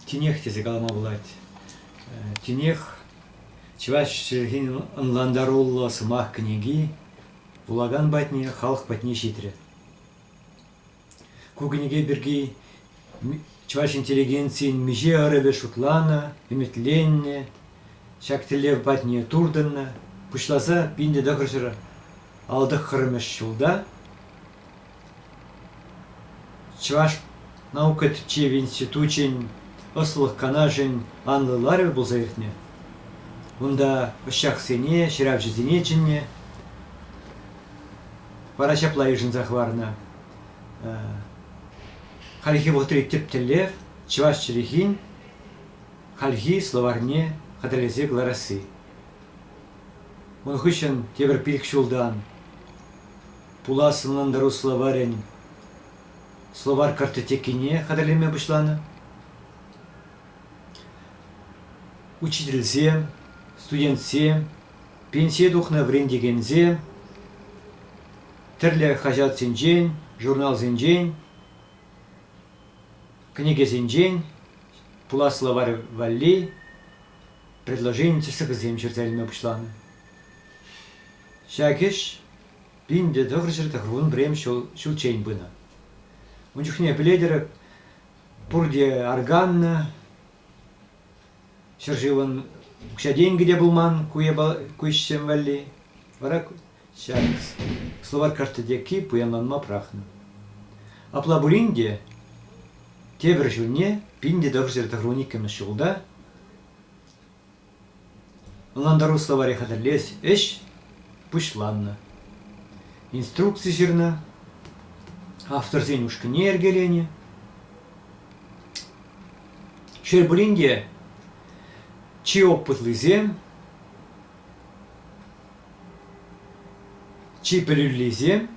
Тинех тесе калама пулать. Тинех чӑваш чӗлхин ӑнлантаруллӑ сӑмах кӗнеки вулакан патне, халӑх патне ҫитрӗ. Ку кӗнеке пирки чӑваш интеллигенцийӗн миҫе ӑрӑвӗ шутланӑ, ӗмӗтленнӗ, ҫак тӗллев патне туртӑннӑ. Пуҫласа пинпе тӑхӑрҫӑр алтӑххӑрмӗш ҫулта Чӑваш наука тӗпчев институчӗн ӑслӑх канашӗн анлӑ ларӑвӗ пулса иртнӗ. Унта ӑсчахсене, ҫыравҫӑсене чӗннӗ. Вара ҫапла йышӑнса хӑварнӑ. Хальхи вӑхӑтри тӗп тӗллев, чӑваш чӗлхин хальхи словарьне хатӗрлесе кӑларасси. Ун хыҫҫӑн тепӗр пилӗк ҫултан пулас ӑнлантару словарӗн словарь картотекине хатӗрлеме пуҫланӑ. Учительсем, студентсем, пенсие тухнӑ вӗрентекенсем тӗрлӗ хаҫатсенчен, журналсенчен, кӗнекесенчен пулас словарь валли предложени списокӗсем ҫырса илме пуҫланӑ. Ҫак ӗҫ пинде тӑхӑрҫӗр тӑхӑрвун пӗрем ҫул, ҫулччен пынӑ. Ун чухне пӗлетӗр пурте органна, Ҫӗршывӑн укҫа-тенкӗ те пулман ку ӗҫсем валли. Вара ҫак словарь карти текки пуянланма пӑрахнӑ. Апла пулин те тепӗр ҫулне пин те тӑвӑҫҫӗр тӑхрун иккӗмӗш ҫулта Ӑнлантару словаре хатӗрлес ӗҫ пуҫланнӑ. Инструкци ҫырнӑ, авторсен ушкӑнне йӗркеленӗ. Шел пулин те, чи опытлисем, чи пӗлӳллисем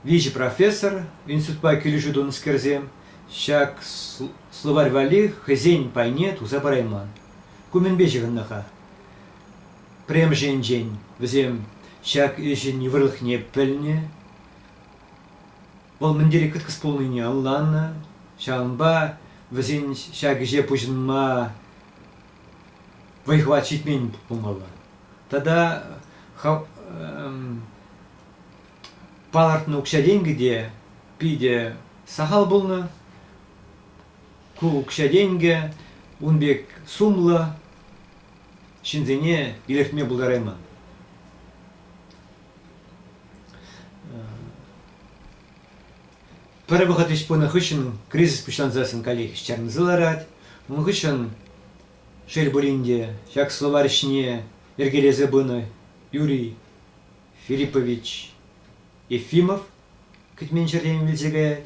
виҫӗ профессор, институтпа килӗшӳ тунӑскерсем ҫак словарь валли хӑйсен пайне туса парайман. Ку мӗнпе ҫыхӑннӑ-ха? Пӗрремӗш енчен, вӗсем ҫак ӗҫӗн йывӑрлӑхне пӗлнӗ, вӑл мӗн тери кӑткӑс пулнине ӑнланнӑ, ҫавӑнпа вӗсен ҫак ӗҫе пуҫӑнма вӑй-хӑват ҫитмен пулмалла. Тата палӑртнӑ укҫа-тенкӗ те питӗ сахал пулнӑ. Ку укҫа-тенкӗ ун пек сумлӑ ҫынсене илӗртме пултарайман. Пӗр вӑхӑт ӗҫ пынӑ хыҫҫӑн кризис пуҫлансассӑн каллех ҫӗрӗнсе ларать. Ун хыҫҫӑн, шел пулин те, ҫак словарь ӗҫне йӗркелесе пынӑ Юрий Филиппович Ефимов кӗтмен ҫӗртен вилсе каять.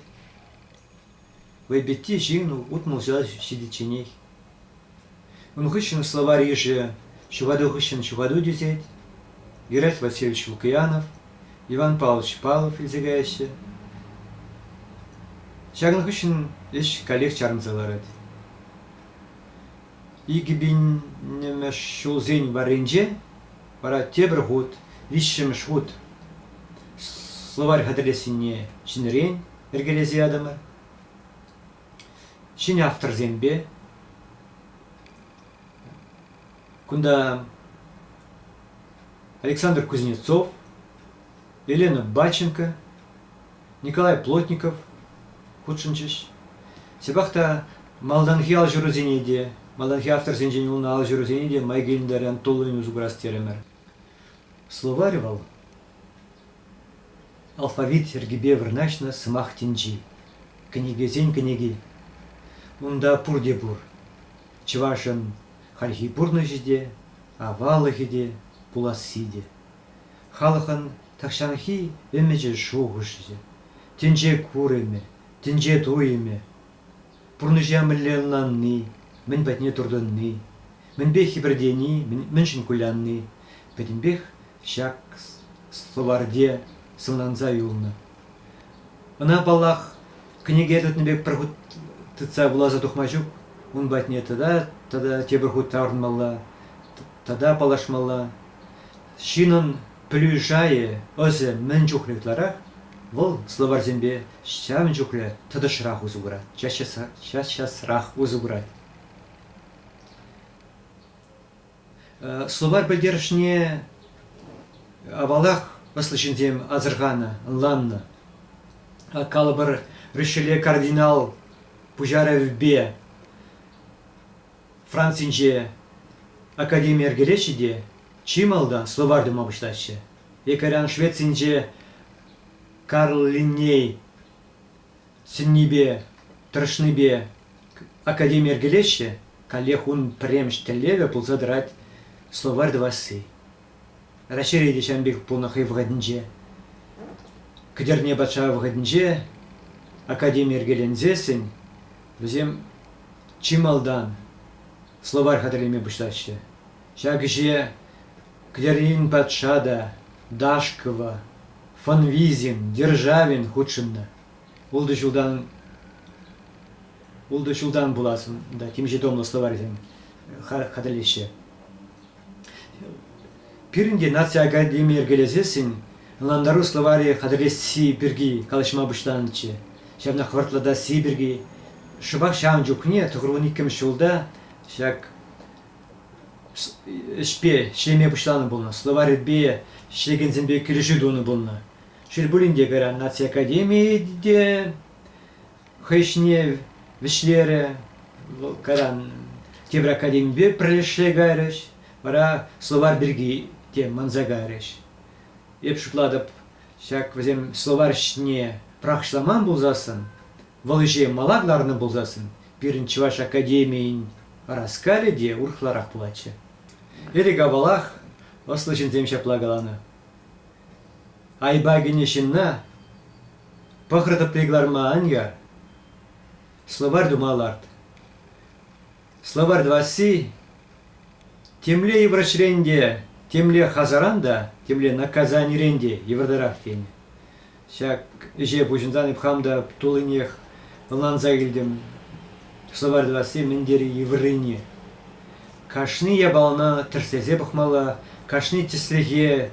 Вайпитти ҫын утмӑлҫа ҫитичченех. Ун хыҫҫӑн словарь йышӗ ҫӑвату хыҫҫӑн ҫӑвату тӳсет. Геральт Васильевич Лукиянов, Иван Павлович Павлов илсе каяҫҫӗ. Ҫакӑн хыҫҫӑн ӗҫ каллех чарӑнса ларать. Икӗпӗнмӗш ҫулсен варринче вара тепӗр хут, виҫҫӗмӗш хут словарь хатӗрлессине ҫӗнӗрен йӗркелесе ятӑмӑр. Ҫӗнӗ авторсемпе кунта Александр Кузнецов, Елена Батченко, Николай Плотников хутшӑнчӗҫ. Ҫапах та малтанхи алҫырусене те, малтанхи авторсенчен пулнӑ алҫырусене те май килӗнтерен туллин усӑ курас терӗмӗр. Словарь вӑл алфавит йӗркипе вырнаҫнӑ сӑмах тӗнчи. Кӗнекесен кӗнеки. Унта пурте пур. Чӑвашӑн хальхи пурнӑҫӗ те, аваллӑхӗ те, пуласси те. Халӑхӑн тахҫанхи ӗмӗчӗ шухӑшӗ, тӗнче курӑмӗ, тӗнче туйӑмӗ, пурнӑҫа мӗнле ӑнланни, мӗн патне туртӑнни, мӗнпе хӗпӗртени, мӗншӗн кулянни пӗтӗмпех ҫак словарьте сӑнланса юлнӑ. Ӑна, паллах, кӗнеке тытнӑ пек пӗр хут тытса вуласа тухма ҫук, ун патне тата тата тепӗр хут таврӑнмалла, тата паллашмалла. Ҫынӑн пӗлӳ шайӗ, ӑсӗ мӗн чухлӗ ытларах, вӑл словарьсемпе ҫавӑн чухлӗ тӑтӑшрах усӑ курать, час-часрах усӑ курать. Словарь пӗлтерӗшне авалах ӑслӑ ҫынсем асӑрханӑ, ӑнланнӑ. Калӑпӑр, Ришеле кардинал пуҫарӑвӗпе Францинче академи йӗркелеҫҫӗ те чи малтан словарь тума пуҫлаҫҫӗ. Якорян Швецинче Карл Линней сӗннипе, тӑрӑшнипе академи йӗркелеҫҫӗ, каллех ун пӗрремӗш тӗллевӗ пулса тӑрать словарь тӑвасси. Раҫҫейре те ҫавӑн пек пулнӑ хӑй вӑхӑтӗнче. Кӗтерне патша вӑхӑтӗнче академи йӗркеленсессӗн вӗсем чи малтан словарь хатӗрлеме пуҫлаҫҫӗ. Ҫак ӗҫе Кӗтернен патша та Дашкова, Фонвизин, Державин хутшӑннӑ. Ултӑ ҫултан ултӑ ҫултан пулас унта темиҫе томлӑ словарьсем хатӗрлеҫҫӗ. Пирӗн те наци академи йӗркелесессӗн ӑнлантару словарӗ хатӗрлесси пирки калаҫма пуҫланӑччӗ. Ҫавнах вӑртлатасси пирки. Шӑпах ҫавӑн чухне тӑхӑрлӑн иккӗмӗш ҫулта ҫак ӗҫпе ӗҫлеме пуҫланӑ пулнӑ, словарьпе ӗҫлекенсемпе килӗшӳ тунӑ пулнӑ. Шел пулин те, кайран наци академийӗ те хӑй ӗҫне вӗҫлерӗ. Вӑл кайран тепӗр академипе пӗрлешсе кайрӗҫ. Вара словарь пирки те манса кайрӗҫ. Эп шутлатӑп, ҫак вӗсем словарь ӗҫне пӑрахӑҫламан пулсассӑн, вӑл ӗҫе мала кӑларнӑ пулсассӑн, пирӗн Чӑваш академийӗн ӑраскалӗ те урӑхларах пулатчӗ. Ӗлӗк-авалах ӑслӑ ҫынсем ҫапла каланӑ. Айӑпа кӗнӗ ҫынна пӑхӑр тӑпри кӑларма ан яр. Словарь тума ларт. Словарь тӑвасси темле йывӑрӑҫрен те, темле хасаран та, темле наказанирен те йывӑртарах тенӗ. Ҫак ӗҫе пуҫӑнсан эп хам та туллинех ӑнланса килтӗм. Словарь тӑвасси мӗн тери йывӑррине. Кашни япалана тӗрӗслесе пӑхмалла, кашни тӗслӗхе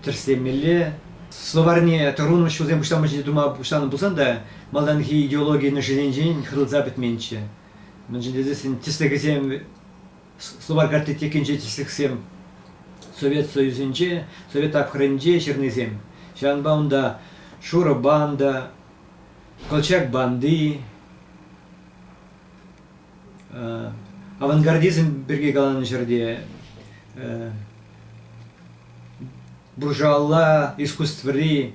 тӗрӗслемелле. Словарьне тӑрун ӗҫҫусем пуҫланма ҫине тума пуҫланӑ пулсан та малтанхи идеологи ношенинчен хӑрӑлса пӗтменччӗ. Мӗншӗн тесен тӗслӗхӗсем словарь картотекинче тӗслӗхсем Совет Союзӗнче, Совет тапхӑрӗнче ҫырнисем. Ҫавӑнпа унта шурӑ банда, колчак банды, Авангардизм пирки каланӑ ҫӗрте буржуалла искусствӑри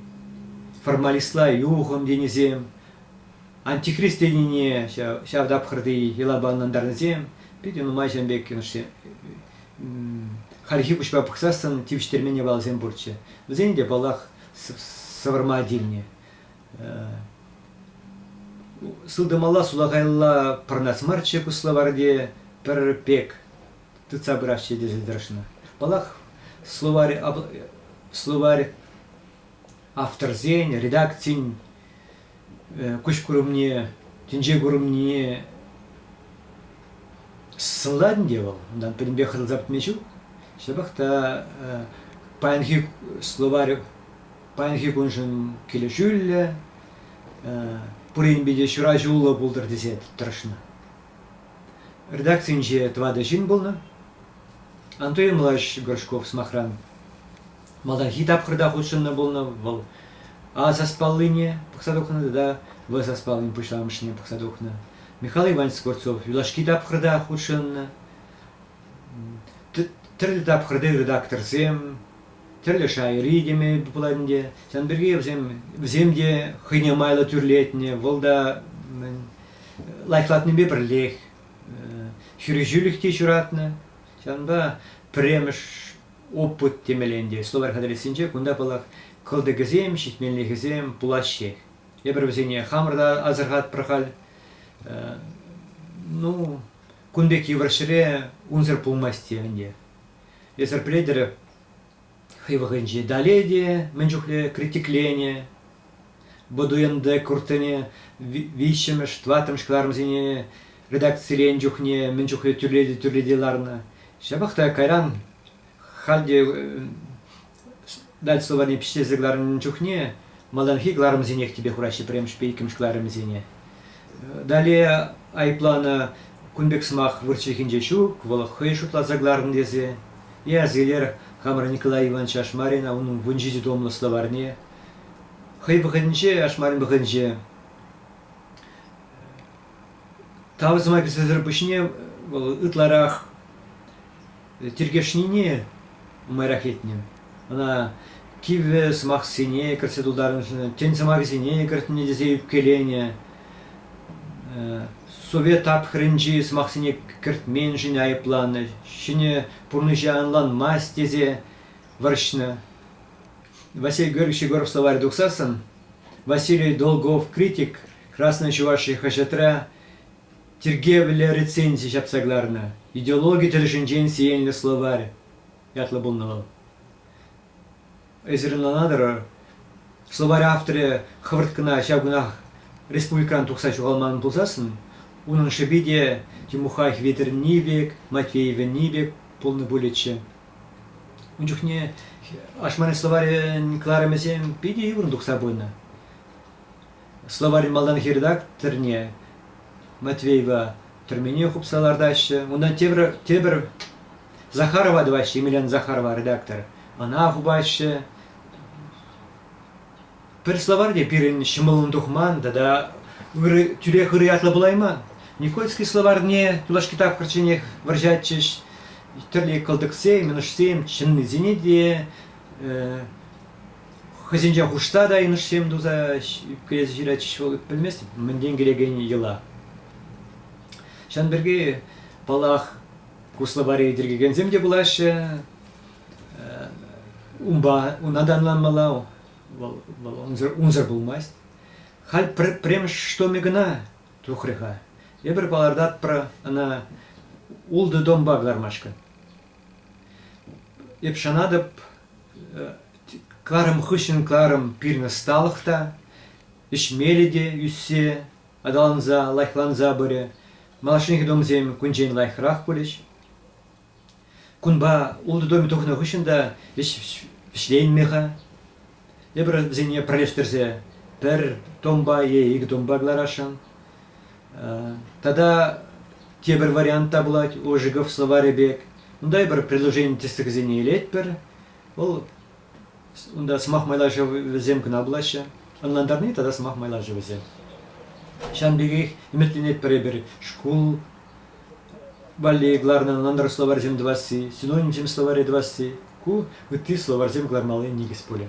формалистла юхӑм тенисем, антихрист тенине ҫав тапхӑрти йӑлапа ӑнлантарнисем питӗ нумай ҫын пек хальхи куҫпа пӑхсассӑн тивӗҫтермен япаласем пурччӗ. Вӗсен те, паллах, сӑвӑрма тивнӗ. Сылтӑмалла сулахайла пӑрӑнас марччӗ ку словарьте, пӗр пек тытса пырасчӗ тесе тӑрӑшнӑ. Паллах, словарь, словарь авторсен, редакцин куҫ курӑмне, тӗнче курӑмне сӑнлать ӗнтӗ вӑл. Унтан пӗтӗмпех хӑтӑлса пӗтме ҫук. Ҫапах та паянхи словарь паянхи куншӑн килӗшӳллӗ, пуринпе те ҫураҫуллӑ пултӑр тесе тӑрӑшнӑ. Редакцинче тӑватӑ ҫын пулнӑ. Антон Ильич Горшков, сӑмахран, малтанхи тапхӑрта хутшӑннӑ пулнӑ. Вӑл А саспаллине пӑхса тухнӑ тата В саспаллин пуҫламӑшне пӑхса тухнӑ. Михаил Иванович Скворцов юлашки тапхӑрта хутшӑннӑ. Тӗрлӗ тапхӑрти редакторсем, тӗрлӗ шайри теме пулать ӗнтӗ. Ҫавӑн пирки вӗсем, вӗсем те хӑйне майлӑ тӳрлетнӗ, вӑл та лайӑхлатнипе пӗрлех хирӗҫӳлӗх те ҫуратнӑ. Ҫавӑнпа пӗрремӗш опыт темелле ӗнтӗ словарь хатӗрӗссинче кунта паллах кӑлтӑкӗсем, ҫитменлӗхӗсем пулаҫҫех. Эпир вӗсене хамӑр та асӑрхатпӑр халь. Ну, кун пек йывӑр ҫӗре унсӑр пулмасть те ӗнтӗ. Эсӗр пӗлетӗр хӑй вӑхӑтӗнчи Далее те мӗн чухлӗ критикленӗ, Бодуэнде Куртене виҫҫӗмӗш, тӑваттӑмӗш кӑларӑмсене редакцилен чухне мӗн чухлӗ тӳрлете-тӳрлете ларнӑ. Ҫапах та кайран халь те дать словари пӗҫерсе кӑларнӑ чухне малтанхи кӑларӑмсенех тӗпе хураҫҫӗ пӗрремӗшпе иккӗмӗш кӑларӑмӗсене. Далее айӑпланӑ кун пек сӑмах вырӑс чӗлхинче ҫук, вӑл хӑй шутласа кӑларнӑ тесе. И азилер хамӑр Николай Иванович Ашмарина унӑн вун ҫичӗ томлӑ словарьне хӑй вӑхӑтӗнче, Ашмарин вӑхӑтӗнче тав сӑмахӗсӗр пуҫне вӑл ытларах тиркешнине нумайрах илтнӗ. Ӑна кивӗ сӑмахсене кӗртсе тултарнӑ, тӗн сӑмахӗсене кӗртнӗ тесе ӳпкеленӗ. Совет тапхӑрӗнчи сӑмахсене кӗртменшӗн айӑпланӑ, ҫӗнӗ пурнӑҫа ӑнланмасть тесе вӑрҫнӑ. Василий Георгиевич Егоров словарь тухсассӑн Василий Долгов критик Красная Чувашия хаҫатра Тиркевлӗ рецензи ҫапса кӑларнӑ, идеологи тӗлӗшӗнчен сиенлӗ словарь ятлӑ пулнӑ вӑл. Эсир ӑнлана тӑрӑр, словарь авторӗ хӑвӑрт кӑна ҫав кунах республикӑран тухса ҫухалман пулсассӑн, унӑн шӑпи те Тимухай Хветӗрне пек, Матвеевне пек пулнӑ пулӗччӗ. Ун чухне ашмарин словарӗн кӑларӑмӗсем питӗ юрӑн тухса пынӑ. Словарь малтан Хирдак тӗрне Матвеева тӗрмене хупса лартаҫҫӗ. Унта тепӗр, тепӗр Захарова тӑваҫҫӗ, Емельян Захарова редактор. Ӑна хупаҫҫӗ. Пӗр словарь те пирӗн ҫӑмӑллӑн тухман тата ырӑ, тӳрех ырӑ ятлӑ пулайман. Никольский словарьне юлашки тапхӑрчченех вӑрҫатчӗҫ. Тӗрлӗ кӑлтӑксем, мӑнушсем, чӑннисене те э, хӑйсенчен хушса та йӑнӑшсем туса ӳпкелесе ҫыратчӗҫ вӑл пӗлмест мӗнтен килекен йӑла. Ҫавӑн пирки, паллах, куславари тиркекенсем те пулаҫҫӗ. Унпа унта танланмалла, вӑл, вӑл унсӑр, унсӑр пулмасть. Халь пӗр пӗрремӗш штомӗ кӑна тухрӗ-ха. Эпир палӑртатпӑр ӑна ултӑ томпа кӑлармашкӑн. Эп шанатӑп, кӑларӑм хыҫҫӑн кӑларӑм пирӗн ӑсталӑх та ӗҫмелле те ӳссе, аталанса, лайӑхланса пырӗ. Малашнехи томсем кунччен лайӑхрах пулӗҫ. Кунпа ултӑ томӗ тухнӑ хыҫҫӑн та ӗҫ вӗҫленмӗ-ха. Эпир вӗсене пӗрлештерсе пӗр томпа е икӗ томпа кӑларасшӑн. Тата тепӗр вариант та пулать Ожегов словарӗ пек. Унта эпир предложени тӗслӗхӗсене илетпӗр. Вӑл унта сӑмах майлашӑвӗсем кӑна пулаҫҫӗ. Ӑнлантарни тата сӑмах майлашӑвӗсем. Ҫавӑн пекех ӗмӗтленетпӗр эпир шкул Валли кӑларнӑ нӑнтӑр словарьсем тӑвасси, синонимсем словаре тӑвасси – ку ытти словарьсем кӑлармалли никӗс пулӗ.